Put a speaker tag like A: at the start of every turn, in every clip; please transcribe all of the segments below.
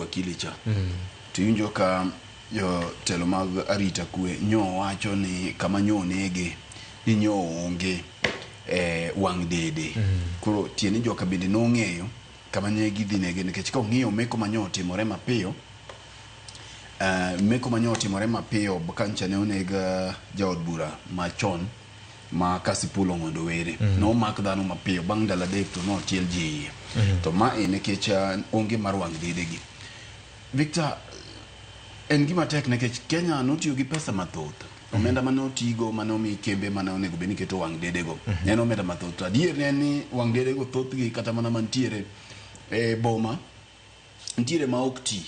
A: wakili cha to iwinjo ka jotelo mag arita kwe nyo wacho ni kama nyo onege ni nyo onge eh, wang' dede koro tiende ni joka bende nong'eyo kama ne gidhi nege nikech ka ong'eyo meko ma nyo otimore mapiyo eh, meko ma nyo otimore mapiyo kancha ne oneg eh, jaod bura machon ma Kasipul Ong'ondo Were mm -hmm. nomak dhano mapiyo bang' ndalo adek to notiel ji iye mm -hmm. to ma e nikech uh, onge mar wang' dedegi Victor en gima tek nikech Kenya notiyo gi pesa mathoth mhm. omenda mane otigo mane omi kembe mane onego bed ni keto wang' dedego mm -hmm. en omenda mathoth to adier ne ni wang' dedego thothgi kata mana mantiere e boma nitiere ma ok ti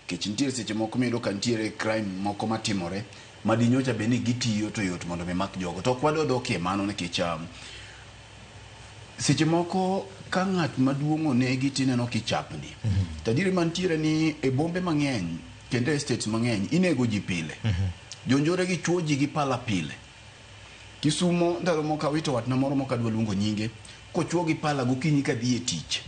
A: kech nitiere seche moko miyudo ka nitiere crime moko matimore ma di nyocha bed ni gitiyo to yot mondo mi mak jogo to ok wadwa dokie mano nikech um, seche moko ka ng'at maduong' onegi tineno kichapni to adieri mantiere ni e bombe mang'eny kendo e states mang'eny inego ji pile jonjore gi chuo ji gi pala pile Kisumo ndalo moko awito watna moro mok adwa luongo nyinge kochwo gi pala gokinyi kadhi e tich.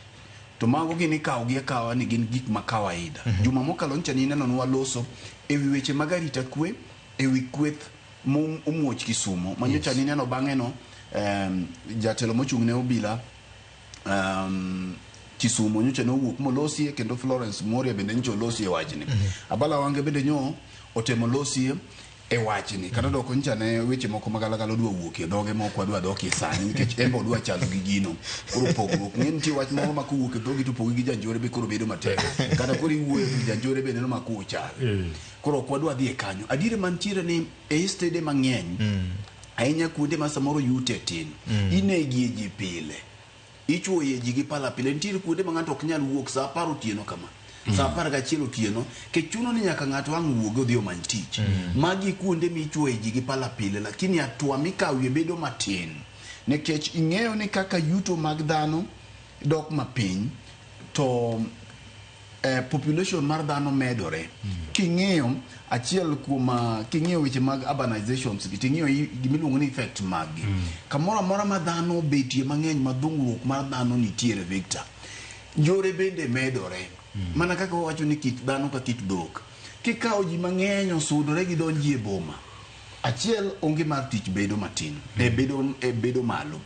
A: To mago gin ikawogi akawa ni gin gik ma kawaida. Juma mokalo ncha nineno ne waloso e wi weche mag arita kwe, e wi kweth momuoch Kisumo ma nyocha nineno bang'eno em, jatelo mochung' ne obila em, Kisumo nyocha ne owuok molosie kendo Florence Moria bende nyocha olosie wachni. Abala Wange bende nyo otemo losie e wachni kata doko nyicha ne weche moko magalagala odwa wuok e dhoge moko adwa dokie sani nikech embe odwa chalo gi gino koro pogruok ng'e nitie wach moro ma kowuok e dhogi to pogi gi janjore be koro bedo matek kata koro iwuoyo to janjore be neno ma kowo chal eh. koro ok wadwa dhi e kanyo adiere mantiere ni e istede mang'eny mm. ahinya kuonde ma samoro yute tin mm. inegie ji pile Ichuoye ji gi pala pile. Nitiere kuonde ma ng'ato ok nyal wuok sa apar otieno kama. Sa apar gachiel otieno, kech chuno ni nyaka ng'ato ang' wuogi odhi omany tich. Magi kuonde michuoye ji gi pala pile lakini atua mikawie bedo matin nikech ing'eyo ni kaka yuto mag dhano dok mapiny to eh, population mar dhano medore king'iyo achiel kuom ah, king'iyo weche mag urbanizations gi ting'iyo i- gimiluongo ni effect maggi kamoro amora ma dhano obetie mang'eny ma dhungruok mar dhano nitiere victor njore bende medore mana kaka wawacho ni kit dhano ka kit dhok kikawo ji mang'eny osudore gidonji e boma achiel onge mar tich bedo matin e bedo, e bedo malo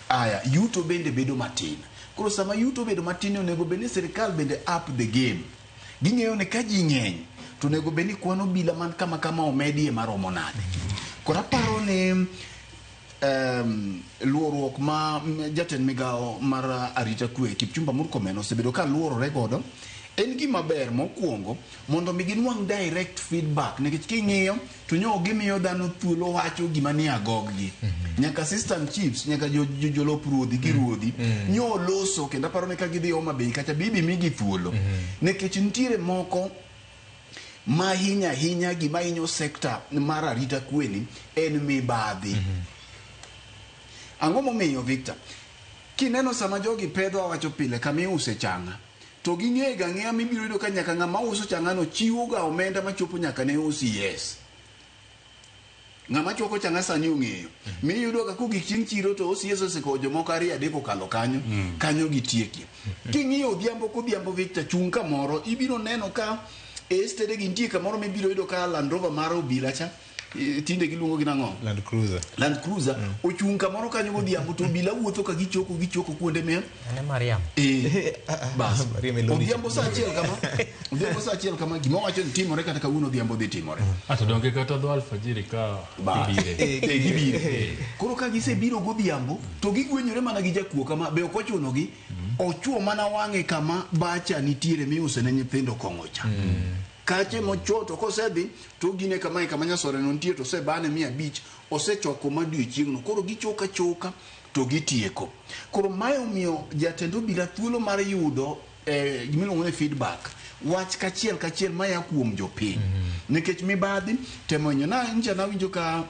A: Aya, yuto bende bedo matin. Koro sama yuto obedo matin ni onego bed ni sirkal bende up the game. Ging'eyo ni ka ji ng'eny to onego bed ni kwan obila man kama kama omedie maromo nade. Koro aparo ni um, luoruok ma m- jatend migawo mar uh, arita kwe Kipchumba Murkomen osebedo ka luorore godo en gima ber mokwongo mondo mi ginwang' direct feedback nikech king'iyo to nyo ok gimiyo dhano thuolo wacho gima ni agoggi nyaka assistant chiefs nyaka jo- jo- jolop ruodhi gi ruodhi nyo loso kendo aparo ni ka gidhi Homa Bay kacha bibi migi thuolo nikech nitiere moko ma hinya hinya gima hinyo sekta mar arita kweni en mibadhi ang'o momiyo victor kineno sama jogi pedho awacho pile kama iuse changa to ging'eyo ga ng'eya mibiro yudo ka nyaka ng'ama uso chang'ano chiwo ga omenda machopo nyaka ne usi yes ng'ama chwako changa sani ong'eyo mm. mi yudo ka kogik chieng' chiro to osi yeso siko jomoko ariyo adek okalo kanyo mm. kanyo gitiekie mm. king'iyo odhiambo kodhiambo victor chung' kamoro ibiro neno ka estede gi nitie kamoro mibiro yudo ka landrova mar obila cha eh, tinde giluongo gi nang'o Land Cruiser. Land Cruiser ochung' kamoro kanyo godhiambo to obila wuotho ka gichoko gichoko kuonde miel Ane Mariam. Eh, bas Maria Melody. odhiambo saa achiel kama odhiambo saa achiel kama gima wacho ni timore kata kawuono odhiambo dhi timore Ato donge kata dho
B: alfajiri ka Bas. ibire. Eh, eh, gibiro.
A: koro ka gisebiro godhiambo to gigwenyore mana gi jakuo kama be ok ochunogi ochuo mana wang'e kama bacha nitiere miuse ne nyithindo kong'o cha kache mochwo to kosedhi to ogine kamae kama nyasoreno nitie to osebane mia abich osechoko ma odiechieng'no koro gichoka choka to gitieko koro mae omiyo jatend obila thuolo mar yudo eh, gimiluongo ni feedback wach kachiel kachiel maya kuom jopiny nikech mibadhi temo inyo na nja nawinjo ka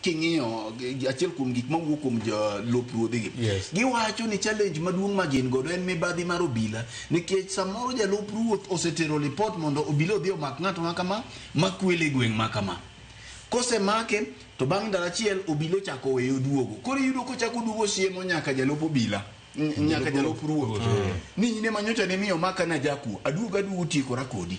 A: king'iyo achiel kuom gik mawuok kuom jolup ruodhigi yes. giwacho ni challenge maduong' ma gin godo en mibadhi mar obila nikech samoro jalup ruoth osetero lipot mondo obila odhi omak ng'ato ma kama makwele gweng' ma kama kosemake to bang' ndalo achiel obila ochako weyo oduogo koro iyudo kochako oduogo siemo nyaka jalup obila nyaka jalup ruoth ni in ema nyocha ne miyo maka na jakuo aduogo aduogo tiekora kodi